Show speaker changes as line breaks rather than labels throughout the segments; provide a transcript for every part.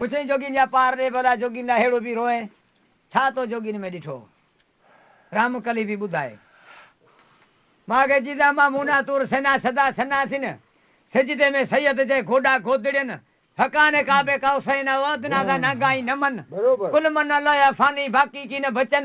پڇيائين جوڳين جا پار ڏي ڀلا جوڳين لاء ههڙو به روئين ڇا تو جوڳين ۾ ڏٺو رام ڪلي به ٻڌائي ماڳ جيدا مان مونا تور سينا سدا سناسين سجدي ۾ سيد جي گوڏا گودڙين فقان ڪعبه ڪاوسين او ادنادا ناگائين نمن ڪل من الله يا فاني باقي ڪين بچن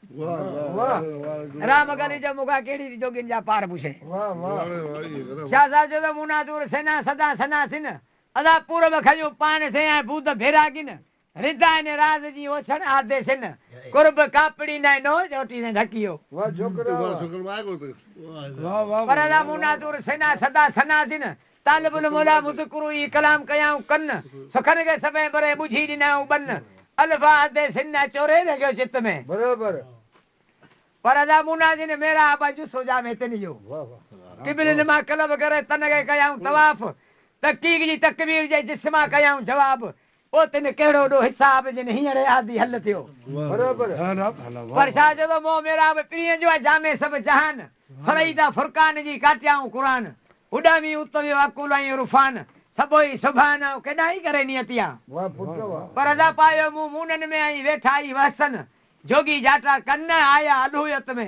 راء مغلي جو مغا ڪهڙي ري جوڳين جا پار پوڇين. شاهه صاحب چيو ته مون نه دور سينا سدا سنا سن. ادا پورب کنيون پاڻ سين ۽ بود ڀيراڳين. ردا اني راز جين اوڇڻ آڌي سن. قرب ڪاپڙي نئين نو چوٽي سين ڍڪيو. پر ادا مون نه دور سينا سدا سنا سن. طالب الموليٰ مذڪرو ئي ڪلام ڪيائون ڪن، سخن کي سڀئي بري ٻجهي ڏنائون ٻن، الف آ حد سين نه چوري رهيو چت ۾، برابر پر ادا مونا جن ميرا آبا جو سوجا ۾ تن جو، قبل نما قلب ڪري تن کي ڪيائون طواف، تحقيق جي تڪبير جي جس مان ڪيائون جواب، پوء تنھن ڪهڙو ڏوھ حساب جنھن ھينئڙي عادي حل ٿيو. پر شاھ جو تو مون محراب پرين جو آ جامع سڀ جهان فريدا فرقان جي ڪاٽيائون قرآن اڏامي ات ويو عقول ۽ عرفان سڀوئي سبحان آئون ڪيڏانھن ئي ڪري نيت يا پر ادا پايو مون مونن ۾ ۽ ويٺا ئي وحسن جوڳي جاٽا ڪن نه آيا الھويت ۾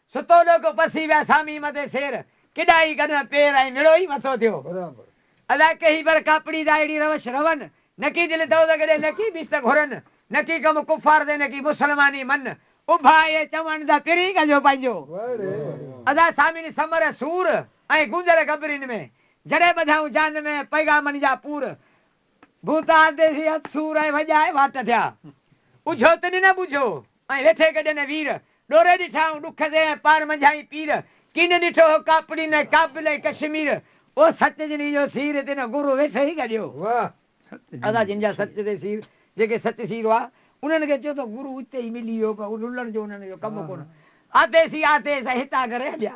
ستو ڏوڪ پسي ويا سامي مدي سير ڪيڏا ئي گڏهه پير ۽ مڙو ئي مٿو ٿيو ادا ڪهي بر ڪاپڙي دا اهڙي روش رون نڪي دل دوزخ ڏي نڪي بيست گهرن نڪي ڪم ڪفار دي نڪي مسلماني من اڀا اهي چوڻ دا پرين ڪجو پنهنجو ادا سامين سمر سور ۽ گونجل گبرين ۾ جڏهن ٻڌائون جاند ۾ پيغامن جا پور ڀوتار ديسي هٿ سور ۽ وڄائي واٽ ٿيا. اجهو ته ڏنئه ٻجهو ۽ ويٺي گڏ نه وير. ڏوري ڏٺا هون ڏک سي ۽ پاڻ منجهائين پير. ڪين ڏٺو هو ڪاپڙي نه ڪابل ۽ ڪشمير. او سچ جنھن جو سير تنھن گرو ويٺي ئي گڏيو. ادا جن جا سچ تي سير جيڪي سچ سير هئا انھن کي چيو ته گرو اتي ئي ملي ويو پر رلڻ جو انھن جو ڪم ڪونه آتيس ئي آتيس ۽ هتان ڪري هليا.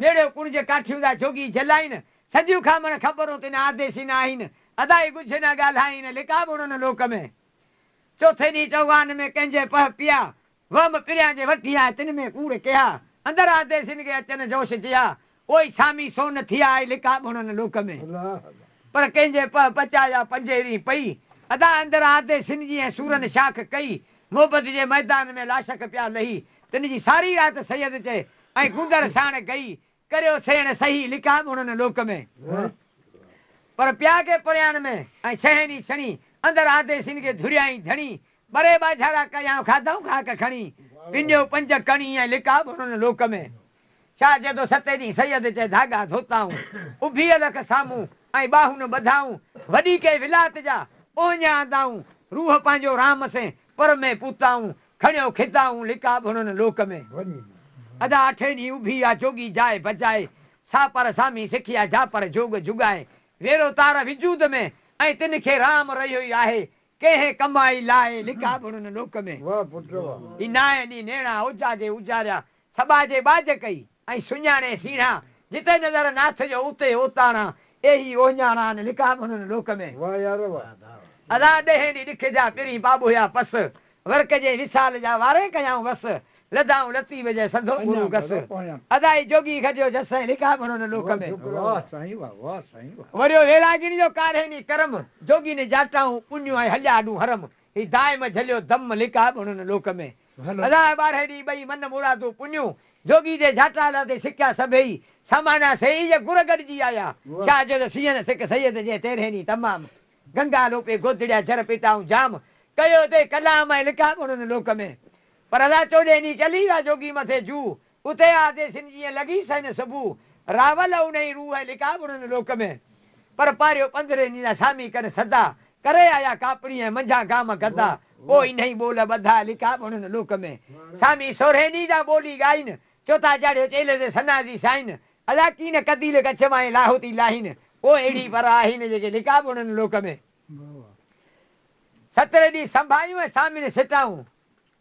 نيڙيو ڪڻج ڪاٺيون دا جوڳي جلائين، سڄيون کامڻ خبرون تين آديسي نه آهين، ادائي ڳجهه نه ڳالهائين، لڪا ٻوڙن لوڪ ۾. چوٿين ڏينهن چوغان ۾ ڪنهنجي پهه پيا، وهم پريان جي وٺي آء تن ۾ ڪوڙ ڪيها، اندر آديسين کي اچن جوش جيها، پوئي سامي سون ٿيا آء لڪا ٻوڙن لوڪ ۾. پر ڪنهنجي پهه پچا يا پنجين رين پئي، ادا اندر آديسين جي ۽ سورن شاخ ڪئي، موبد جي ميدان ۾ لاشخ پيا لهي، تن جي ساري رات سيد چئي، ۽ گندر ساڻ ڪئي، ڪريو سيڻ سهي لکا ڳڻن لوڪ ۾. پر پيا ڪي پريان ۾، ۽ ڇهين ڏينهن سڻي، اندر آڌي سين کي ڌريائين ڌڻي، ٻري ٻاجهارا ڪيائون کاڌائون خاڪ کڻي، پنيو پنج ڪڻي ۽ لکا ڳڻن لوڪ ۾. شاهه جدو ستين ڏينهن سيد چئي ڌاڳا ڌوتائون، اڀي الخ سامهون ۽ ٻاهون ٻڌائون، وڏي ڪئي ولات جا اوهڃا اندائون، روح پنهنجو رام سين پر ۾ پوتائون، کڻيو خطائون لقاب هنن لوڪ ۾. ادا اٺين ڏينهن اڀي آ جوڳي جاء بجائي. سا پر سامي سکيا جا پر جوڳ جوڳائي. ويرو تار وجود ۾ ۽ تن کي رام رهيو ئي آهي. ڪنهن ڪم آئي لاء لقاب هنن لوڪ ۾. هي نائين ڏينهن نيڻا اوجاڳي اوجاريا. سٻاجهي ٻاجهه ڪئي. ائين سڃاڻي سيڻان، جتي نظر ناٿ جو اتي اوتاڻان، اي هي اوهڃاڻان، لڪا به هنن لوڪ ۾. واهه يار واهه. ادا ڏهين ڏينهن ڏک جا پرين ٻاٻوهيا پس، ورڪ جي وصال جا وارين ڪيائون وس، لڌائون لطيف جئن سڌو گرو گس، ادا اي جوڳي گڏيو جس سائين لڪا به هنن لوڪ ۾. واهه سائين واهه واهه سائين واهه. وريو ويراڳين جو ڪارين ئي ڪرم، جوڳين جاٽائون پڃيون ۽ هليا آڏون حرم، هي دائم جهليو دم لڪا به هنن لوڪ ۾. ڀلا ٻارهين ڏينهن ٻئي من مرادون پنيون، جوڳي جي جهٽالا تي سڪيا سڀيئي، سامانا سيئي جا گر گڏجي آيا، شاهه جو ته سيئن سڪ سيد جي تيرهين ڏينهن تمام، گنگا لوپي گودڙيا جر پيتائون جام، ڪيو تي ڪلام ۽ لکا گڻ ان لوڪ ۾، پر ادا چوڏهين ڏينهن چلي ويا جوڳي مٿي جوء، اتي آ ديسين جيئن لڳي سين صبح راول اونهي روح ۽ لقاء ٻرن لوڪ ۾، پر پاريو پنڌري نينا سامي ڪن سدا، ڪري آيا ڪاپڙي ۽ منجهان گام گدا، پوء انهي ٻول ٻڌا لقاء ٻرن لوڪ ۾، سامي سورهين ڏينهن جا ٻولي ڳائين، چوٿا چاڙهيو چيلهه تي ثنا جي سائين، ادا ڪين قديل ڪڇ مائين لاهوتي لاهين، پوء اهڙي پر آهين جيڪي لقاء ٻرن لوڪ ۾، سترهين ڏينهن سنڀايون ۽ سامين سٽائون،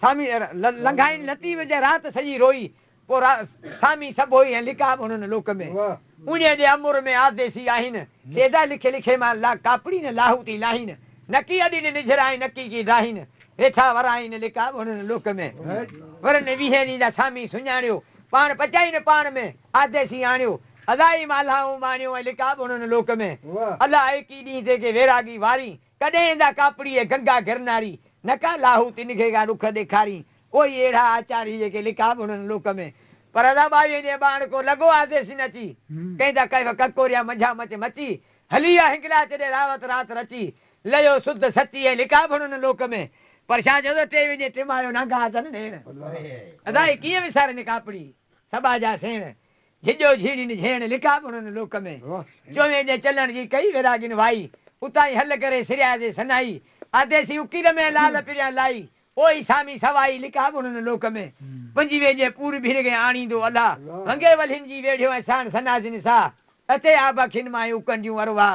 سامي لنگهائين لطيف جي رات سڄي روئي پو را سامي سڀوئي ۽ لکا به هنن لوڪ ۾. اونهي جي امر ۾ آديسي آهين سيدا لکي لکي مان لا ڪاپڙي نه لاهوتي لاهين نڪي اڏي نه نجهرائين نڪي ڪي ڊاهين هيٺا ورائين لکا به هنن لوڪ ۾. ورن ويهين ڏينهن جا سامي سڃاڻيو پاڻ پچائي نه پاڻ ۾ آديسي آڻيو الاهي مالهائون ماڻيو ۽ لکا به هنن لوڪ ۾. الاهي ڪي ڏينهن تي ڪي ويراڳي وارين ڪڏهن ايندا ڪاپڙي اي گنگا گرناري، نه ڪا لاهوتي نگهي کان ڏک ڏيکارين، ڪوئي اهڙا آچاري جيڪي لکا به هنن لوڪ ۾، پر ادا ٻائيء جي ٻانهن ڪو لڳو آڌي سين اچي، ڪئين ته ڪيف ڪڪوريا منجهان مچ مچي، هلي آ هنگلا چڏي راوت رات رچي، ليو سڌ سچي اي لکا به هنن لوڪ ۾، پر شاهه جو ادا ٽي وينجهي ٽمايو نانگا اچن نيڻ، ادا اي ڪيئن وسارين ڪاپڙي سٻا جا سيڻ، جھڄو جھيڙين جھيڻ لڪا بڻن لوڪ ۾. چوين جي چلڻ جي ڪئي ويراڳين وائي. اتاهين هل ڪري سريا جي سنائي. آديسي اڪيل ۾ لال پريان لائي. اوهي سامي سوائي لڪا بڻن لوڪ ۾. پنجوين جي پور ڀير ڪنهن آڻيندو الا. ونگي ولهين جي ويڙهيو ۽ ساڻ سناسين ساهه. اتي آبه کين ماهي اڪنڊيون ارواح.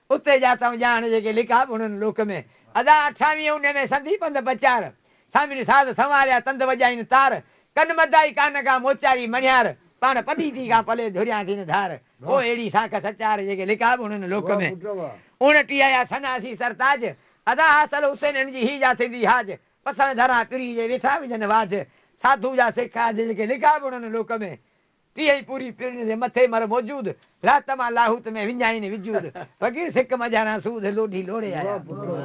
اتي جا تئون ڄاڻ جيڪي لکا بڻن لوڪ ۾. ادا اٺاويهين اونهي ۾ سندي پنڌ پچار. سامين ساز سنواريا تند وڄائين تار. ڪن مدائي ڪان ڪا موچاري مڻيار. پاڻ پليتي کان پلي ڌريان ٿين ڌار. هو اهڙي ساک سچار جيڪي لکا بڻن لوڪ ۾. اڻٽيهه يا سناسي سرتاج. ادا حاصل حسين هن جي هي جا ٿيندي حاج. پسڻ ڌران پري جي ويٺا وجهن واجهه. ساڌو جا سک آج جيڪي لکا بڻن لوڪ ۾. تيئن ئي پوري پرڻ جي مٿي مر موجود، رات مان لاهوت ۾ وڃائين وجود، فقير سڪ مجهاران سوڌ لوڍي لوڙي آيا.